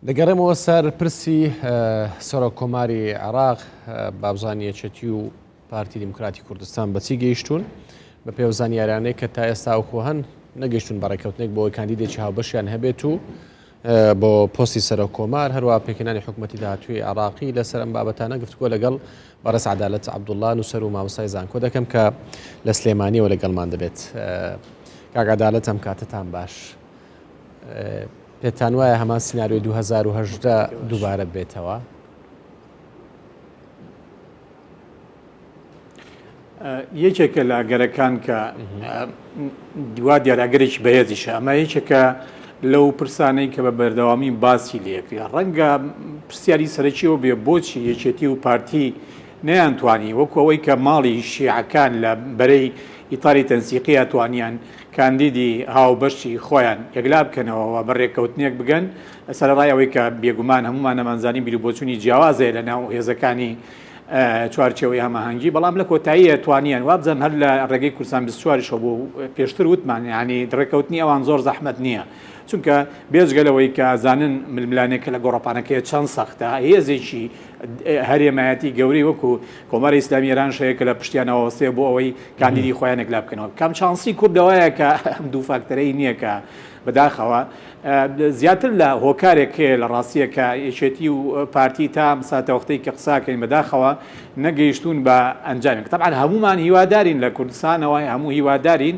دەگەڕێمەوە سەر پرسی سەرۆک کۆماری عێراق بابزان یەچەتی و پارتی دیموکراتی کوردستان بەچی گەیشتون بە پێ زانیارانەی کە تا ئێستا ئەوخۆ هەن نەگەشتون بەڕێککەوتنێک بۆی کاندیدێکی هاوبەشیان هەبێت و بۆ پۆستی سەرۆک کۆمار هەروە پێکەانی حکوومەتتی داهاتوی عراقی لەسەر ئەم بابەتانە گفتگۆ لەگەڵ بەڕێز عدالت عبدوڵان و سەر و مامسای زانکۆ دەکەم کە لە سلێمانیەوە لەگەڵمان دەبێت کاگادالت ئەم کاتتان باش. پێتان وایە هەمان سناریۆی 2018 دووبارە بێتەوە؟ یەکێکە لە گەرەکان کە دوا دیاراگەرێکی بەهێزیش ئەمە یەکێکە لەو پرسانەی کە بە بەردەوامی باسی لەکرێ ڕەنگە پرسیاری سەرەکیەوە بێ بۆچی یەکێتی و پارتی نەیانتوانی وەکەوەی کە ماڵی شیعەکان لە بەرەی ئیتاری تەنسیقیە توانیان کاندیدی هاوبەشی خۆیان یەکلا بکەنەوە و بە رێککەوتنێک بگەن، سەرەڕای ئەوەی کە بێگومان هەموومان ئەمانزانی بیروبۆچوونی جیاواز هەیە لە ناو هێزەکانی چوارچێوەی هەماهەنگی، بەڵام لە کۆتاییە توانیان، وابزانم هەر لە رێگەی کوردستان بیست و چوار یشەوە بۆ پێشتر وتمان یانی رێککەوتنی ئەوان زۆر زەحمەت نییە، چونکە بێجگە لەوەی کە ئەزانن ململانێکە لە گۆڕەپانەکەیە چەند سەختە، هێزێکی. هەرێمایەتی گەورەی وەکو کۆماری ئیسلامی ئێرانش هەیە کە لە پشتیانەوە وەستەیە بۆ ئەوەی کاندیدی خۆیان یەکلا بکەنەوە کام چانسی کورد لەوایە کە ئەم دوو فاکتەرەی نییە کە بەداخەوە زیاتر لە هۆکارێک هەیە لە ڕاستیە کە یەکێتی و پارتی تا ساتەوەختەی کە قساکەین بەداخەوە نەگەیشتون بە ئەنجامێک تەبان هەمومان هیوادارین لە کوردستانەوەی هەموو هیوادارین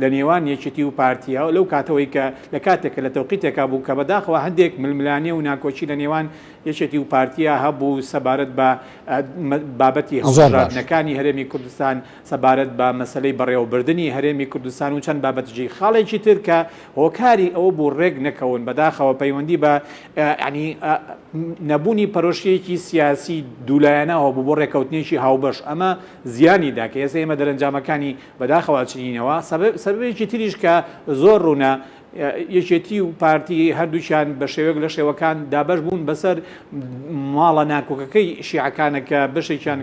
لە نێوان یەکێتی و پارتییە و لەو کاتەوەی کە لە کاتێکە لە تەوقیتێکا بوو کە بەداخەوە هەندێک ململانێ و ناکۆکی لە نێوان یەکێتی و پارتییە هەبوو سەبارەت بە بابەتی هەڵبژاردنەکانی هەرێمی کوردستان، سەبارەت بە مەسەلەی بەڕێوەبردنی هەرێمی کوردستان و چەند بابەتی جی خاڵێکی تر کە هۆکاری ئەوە بوو ڕێک نەکەون بەداخەوە پەیوەندی بە یانی نەبوونی پەرۆشیەکی سیاسی دوولایەنە هەبوو بۆ ڕێکەوتنێکی هاوبەش ئەمە زیانی دا کە ئێستا ئێمە دەرەنجامەکانی بەداخەوە چنینەوە، سەبەبێکی تریش کە زۆر ڕوونە، یەکێتی و پارتی هەردووکیان بە شێوەیەک لە شێوەکان دابەش بوون بەسەر ماڵە ناکۆکەکەی شیعەکانە کە بەشێکیان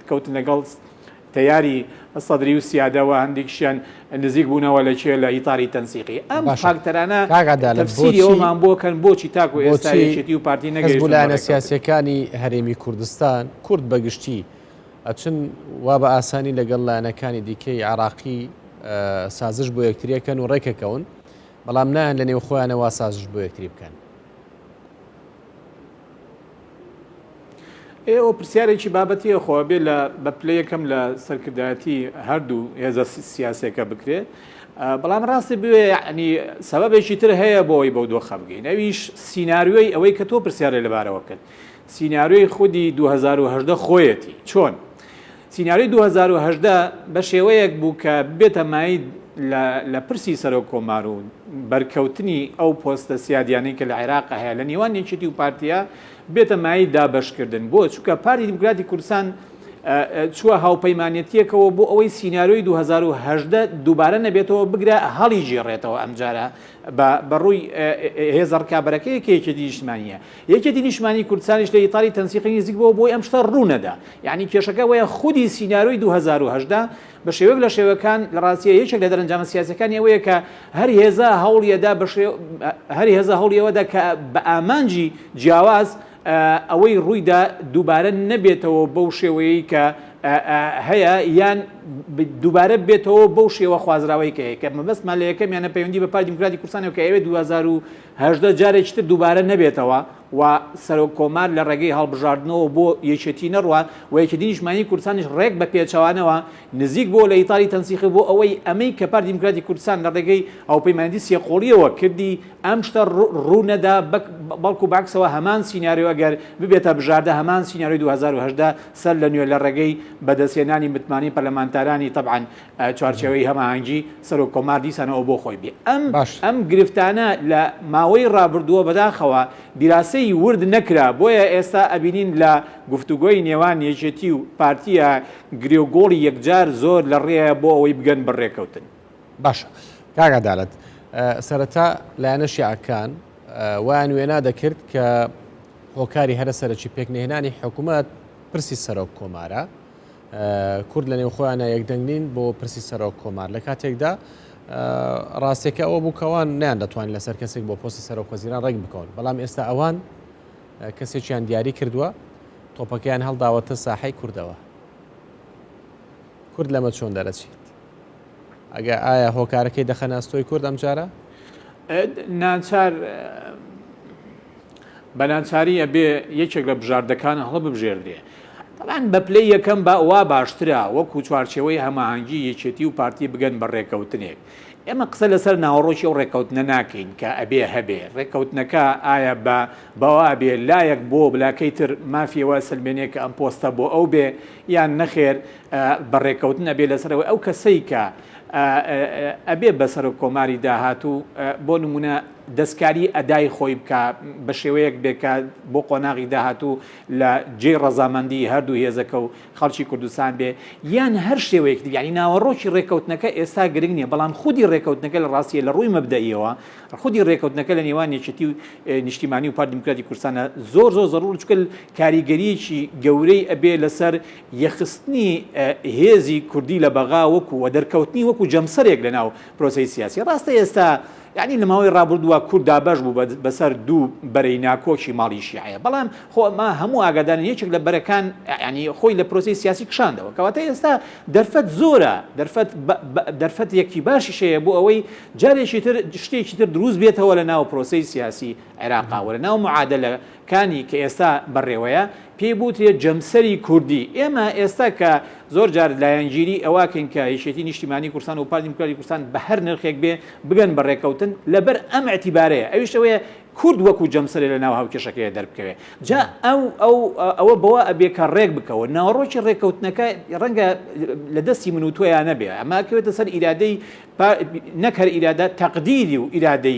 کەوتن لەگەڵ تەیاری سەدری و سیادەوە هەندێکشیان نزیک بوونەوە لە کێ لە ئیتاری تەنسیقی ئەم فاکتەرانە تەفسیریەوەمان بۆکەن بۆچی تاکو ئێستا یەکێتی و پارتی نەگەیشتوونە سیاسەکانی هەرێمی کوردستان کورد بەگشتی ئەچن وا بە ئاسانی لەگەڵ لایەنەکانی دیکەی عێراقی سازش بۆ یەکتریەکەن و ڕێکەکەون بەڵام نایەن لە نێو خۆیانەوە سازش بۆ یەکتری بکەن ئێوە پرسیارێکی بابەتیە خۆ بێ لە بە پلە یەکەم لە سەرکردایەتی هەردوو هێزە سیاسەکە بکرێت بەڵام ڕاستی بوێ ینی سەبەبێکی تر هەیە بۆی بەو دۆخە بگەین ئەویش سینناریۆی ئەوەی کە تۆ پرسیارە لەبارەوە بکەن سیناریۆی خودی دوو هەزار و هەژدە خۆیەتی. چۆن؟ سیناریۆی دوو هەزار و هەژدە بە شێوەیەک بوو کە ببێتە مایەی لە لە پرسی سەرۆک کۆمار و بەرکەوتنی ئەو پۆستە سیادیانەی کە لە عێراق هەیە لە نێوان یەکێتی و پارتیە ببێتە مایەی دابەشکردن بۆ چونکە پارتی دیموکراتی کوردستان چووە هاوپەیمانێتیەکەوە بۆ ئەوەی سیناریۆی 2010 دووبارە نەبێتەوە بگرە هەڵی گێڕێتەوە ئەمجارە بە بەڕووی هێزە ڕکابەرەکەی کێکێتی نیشتمانیە یەکێتی نیشتمانی کوردستانیش لە ئیتاڵی تەنسیقی نزیک بووە بۆی ئەم شتە ڕوو نەدا. یەعنی کێشەکە ئەوەیە خودی سینارۆی دوو هەزار و هەژدە بە شێوەیەک لە شێوەکان لە ڕاستیە یەکێک لە دەرەنجامە سیاسیەکانی ئەوەیە کە هەر هێزە هەوڵی ئەدا بە شێ هەر هێزە هەوڵی ئەوە دا کە بە ئامانجی جیاواز ئەوەی ڕووی دا دووبارە نەبێتەوە بەو شێوەیەی کە هەیە یان دووبارە بێتەوە بەو شێوە خوازراوەی کە هەیە کە مەبەستمان لە یەکەمیانە پەیوەندی بە پارتی دیموکراتی کوردستانەوە کە ئەوێ دوو هەزار و هەژدە جارێکی تر دووبارە نەبێتەوە و سەرۆک کۆمار لە ڕێگەی هەڵبژاردنەوە بۆ یەکێتی نەڕوات و یەکێتی نیشتمانی کوردستانیش ڕێک بە پێچەوانەوە نزیک بۆوە لە ئیتاری تەنسیخی بۆ ئەوەی ئەمەی کە پارتی دیموکراتی کوردستان لە ڕێگەی هاوپەیمانێتی سێ قۆڵیەوە کردی ئەم شتە ڕوو نەدا بەڵکو بەعکسەوە هەمان سیناریۆ ئەگەر ببێتە بژاردە هەمان سیناریۆی دوو هەزار و هەژدە سەر لە نوێ لە ڕێگەی بەدەستهێنانی متمانەی پەرلەمانتارانی تەبعەن چوارچێوەی هەماهەنگی سەرۆک کۆمار دیسان ئەوە بۆ خۆی بێ ئەم باش. ئەم گرفتانە لە ماوەی ڕابردووە بەداخەوە دیراسەی ورد نەکرا بۆیە ئێستا ئەبینین لە گفتوگۆی نێوان یەکێتی و پارتیە گرێ و گۆڵی یەکجار زۆر لە ڕێیە بۆ ئەوەی بگەن بە ڕێکەوتن. باشە کاک عەدالەت سەرەتا لایەنە شیعەکان وایان وێنا دەکرد کە هۆکاری هەرە سەرەکی پێکنەهێنانی حکومەت پرسی سەرۆک کۆمارە، کورد لە نێو خۆیانە یەکدەنگ نین بۆ پرسی سەرۆک کۆمار لە کاتێکدا ڕاستێکە ئەوە بووکەوان نیان دەتوانین لەسەر کەسێک بۆ پۆسی سەرۆک وەزیران ڕێک بکەون بەڵام ئێستا ئەوان کەسێکیان دیاری کردووە تۆپەکەیان هەڵداوەتە ساحەی کوردەوە کورد لەمە چۆن دەرەچیت ئەگە ئایا هۆکارەکەی دەخەنە ئەستۆی کورد ئەمجارە؟ ئەد ناچار بە ناچاری ئەبێ یەکێک لە بژاردەکان هەڵە ببژێردرێ تەبان بە پلەی یەکەم بە وا باشترە وەکو چوارچێوەی هەماهەنگی یەکێتی و پارتی بگەن بە ڕێکەوتنێک ئێمە قسە لەسەر ناوەڕۆکی ئەو ڕێکەوتنە ناکەین کە ئەبێ هەبێ ڕێکەوتنەکە ئایا بە بەوا ئەبێ لایەک بۆ بلاکەی تر مافیەوە سلمێنێک کە ئەم پۆستە بۆ ئەو بێ یان نەخێر بە ڕێکەوتن ئەبێ لەسەر ئەوەی ئەو کەسەی کە ئەبێ بە سەرۆک کۆماری داهاتوو بۆ نمونە دەستکاری ئەدای خۆی بکە بە شێوەیەک بێکە بۆ قۆناغی داهاتوو لە جێ ڕەزامەندی هەردوو هێزەکە و خەڵکی کوردستان بێ یان هەر شێوەیەک دیگەنی ناوەڕۆکی ڕێکەوتنەکە ئێستا گرنگ نیە بەڵام خودی ڕێکەوتنەکە لە ڕاستیە لە ڕووی مەبدەیەوە خودی ڕێکەوتنەکە لە نێوان یەکێتی و نیشتیمانی و پار دیموکراتی کوردستانە زۆر زۆر زەڕور چکل کاریگەریەکی گەورەی ئەبێ لەسەر یەکخستنی هێزی کوردی لە بەغا وەکو و دەرکەوتنی وەکو جەمسەرێک لەناو پرۆسەی سیاسی ڕاستە ئێستا یانی لە ماوەی ڕابردووە کورد دابەش بوو بەسەر دوو بەرەی ناکۆکی ماڵی شیعەیە بەڵام خۆ ئەمە هەموو ئاگادارن یەکێک لە بەرەکان ینی خۆی لە پرۆسی سیاسی کشاندەوە کەواتە ئێستا دەرفەت زۆرە دەرفەت دەرفەت یەکی باشی شەیە بۆ ئەوەی جارێکی تر شتێکی تر دروست بێتەوە لە ناو پرۆسی سیاسی عێراقاوە لە ناو معادلە کانی کە ئێستا بەڕێوەیە پێی بوترێت جەمسەری کوردی، ئێمە ئێستا کە زۆر جار لایەنگیری ئەواکەین کە یەکێتی نیشتیمانی کوردستان وپارتی دیموکراتی کوردستان بەهەر نرخێک بێ بگەن بە رێکەوتن لەبەر ئەم ئیعتیبارەیە ئەویش ئەوەیە کورد وەکو جەمسەرێ لەناو هاوکێشەکەیە دەربکەوێ جا ئەو ئەو ئەوە بەوە ئەبێ کە رێک بکەون ناوەڕۆکی رێکەوتنەکە رەنگە لە دەستی من و تۆیا نەبێ ئەمە ئەکەوێتە سەر ئیرادەی نەک هەر ئیرادە تەقدیری و ئیرادەی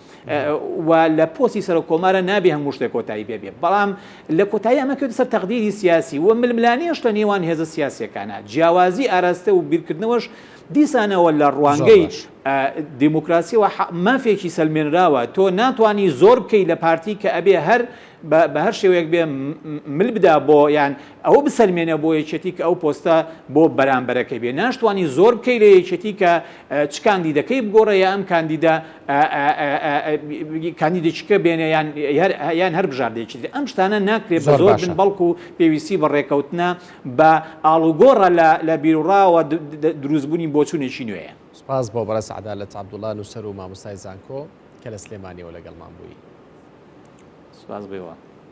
و لە پۆستی سەرۆک کۆمارە نابێ هەموو شتێک کۆتایی پێ بێ بەڵام لە کۆتایی ئەمە کرد سەر تەقدیری سیاسی و ململانێش لە نێوان هێزە سیاسەکانە جیاوازی ئاراستە و بیرکردنەوەش دیسانەوە لە ڕوانگەی دیموکراسیەوە مافێکی سەلمێنراوە تۆ ناتانی زۆر بکەیت لە پارتی کە ئەبێ هەر بە بە هەر شێوەیەک بێ مل بدا بۆ یان ئەوە بسەلمێنە بۆ یەکێتی کە ئەو پۆستە بۆ بەرامبەرەکەی بێ ناشتوانی زۆر بکەی لە یەکێتی کە چ کاندیدەکەی بگۆڕە یا ئەم کاندیدە کاندیدێکیکە بێنە یان یان هەر بژاردێکی تر ئەم شتانە ناکرێت بە زۆر زۆر باشە بن بەڵکو پێویستی بە ڕێکەوتنە بە ئاڵوگۆڕە لە لە بیروڕاوە د- د- دروستبوونی بۆچوونێکی نوێیە. سپاس بۆ بەڕێز عەدالەت عەبدوڵا نووسەر و مامۆستای زانکۆ. کە لە سلێمانیەوە لەگەڵمان بووی. سوپاس بێوا.